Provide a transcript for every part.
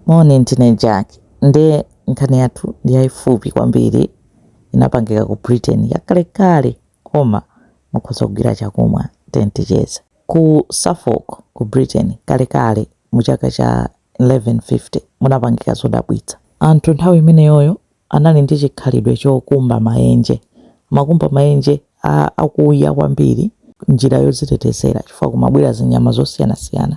Moni, ndine Jack. Nde nkhani yathu ndi yaifupi kwambiri. Inapangika ku Britain, yakalekale koma mukhoza kugwira chakumwa. Tiyeni ticheze. Ku Suffolk, ku Britain, kalekale mu chaka cha 1150 munapangika zodabwitsa. Anthu nthawi imeneyoyo Anali ndi chikhalidwe chokumba maenje. Amakumba maenje a akuya kwambiri njira yodzitetezera chifukwa kumabwera zinyama zosiyanasiyana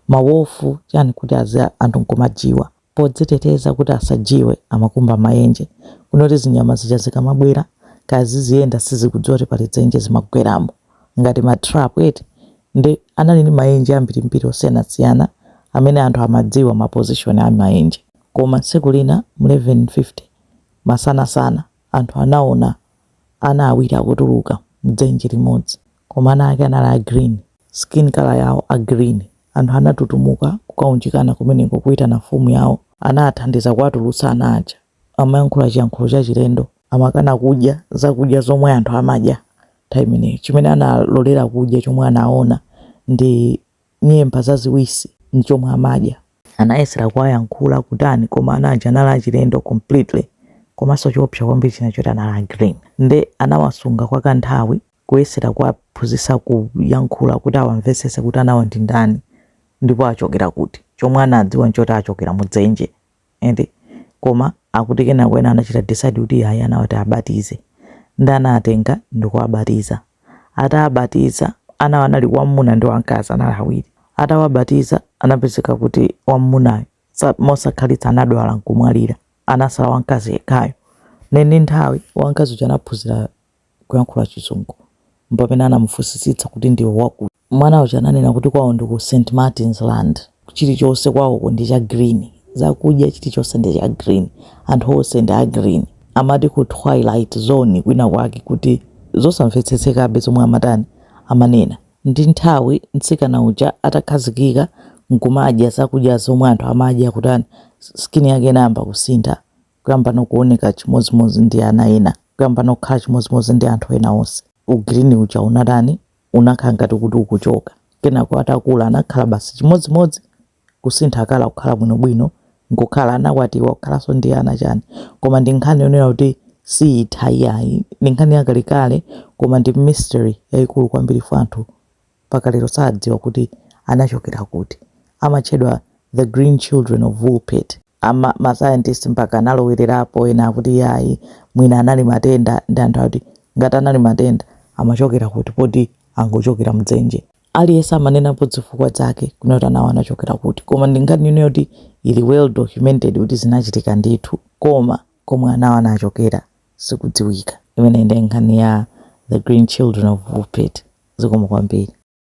mawofu chani kuti anthu nkumajiwa. Podziteteza kuti asajiwe amakumba maenje kunoti zinyama zija zikamabwera kaya ziziyenda sizikudziwa kuti pali dzenje zimagweramo ngati ma trap eti nde anali ndi maenje ambirimbiri osiyanasiyana amene anthu amadziwa ma position a maenje. Koma tsiku lina mu 1150, masanasana, anthu anaona ana awiri akutuluka m'dzenje limodzi. Koma ana ake anali a green, skin colour yawo a green. Anthu anatutumuka kukaunjikana kumeneko kuitana mfumu yawo. Anathandiza kuwatulutsa ana aja. Amayankhula chiyankhulo chachilendo. Amakana kudya zakudya zomwe anthu amadya nthawi imeneyo. Chimene analolera kudya, chomwe anaona, ndi nyemba zaziwisi ndichomwe amadya. Anayesera kuwayankhula kutani koma ana aja anali achilendo completely komanso choopsa kwambiri china choti anali a green nde anawasunga kwa kanthawi kuyesera kuwaphunzitsa kuyankhula kuti awamvetsetse kuti anawa ndi ndani ndipo achokera kuti chomwe anadziwa nchoti achokera mudzenje. eti koma akuti kenako ena anachita decide kuti ayi anawa tiwabatize nde anawatenga ndikuwabatiza atawabatiza anawo anali wamuna ndi wamkazi anali awiri atawabatiza anapezeka kuti wamunayo mosakhalitsa anadwala nkumwalira anatsala wamkazi yekhayo ndiye ndi nthawi wamkazi uja anaphunzira kuyankhula chizungu mpamene anamufunsitsitsa kuti ndiwe wakuti Mwana uja ananena kuti kwawo ndi ku St. Martin's Land. Chilichonse kwawoko ndi cha green. Zakudya chilichonse ndi cha green. Anthu onse ndi a green. Amati ku Twilight Zone kwina kwake kuti zosamvetsetsekabe zomwe amatani, amanena. Ndi nthawi mtsikana uja atakhazikika n'kumadya zakudya zomwe anthu amadya kutani, skin yake inayamba kusintha kuyamba no kuoneka chimodzimodzi ndi ana ena, kuyamba no kukhala chimodzimodzi ndi anthu ena onse. U green uja unatani, unakhala ngati kuti ukuchoka. Kenako atakula anakhala basi chimodzimodzi, kusintha colour kukhala bwinobwino, nkukhala anakwatiwa kukhalanso ndi ana chani. Koma ndi nkhani yonena kuti siyitha iyayi, ndi nkhani yakalekale koma ndi mystery yayikulu kwambiri chifukwa anthu mpaka lero sadziwa kuti anachokera kuti. Amatchedwa the green children of Woolpit. Ma scientist mpaka analowererapo ena akuti yayi mwina anali matenda ndi anthu ati ngati anali matenda amachokera kuti poti angochokera mdzenje aliyense amanenapo zifukwa zake kunena kuti anawo anachokera kuti koma ndi nkhani yonena kuti ili well documented kuti zinachitika ndithu koma komwe anawo anachokera sikudziwika imeneyi ndi nkhani ya the green children of Woolpit zikomo kwambiri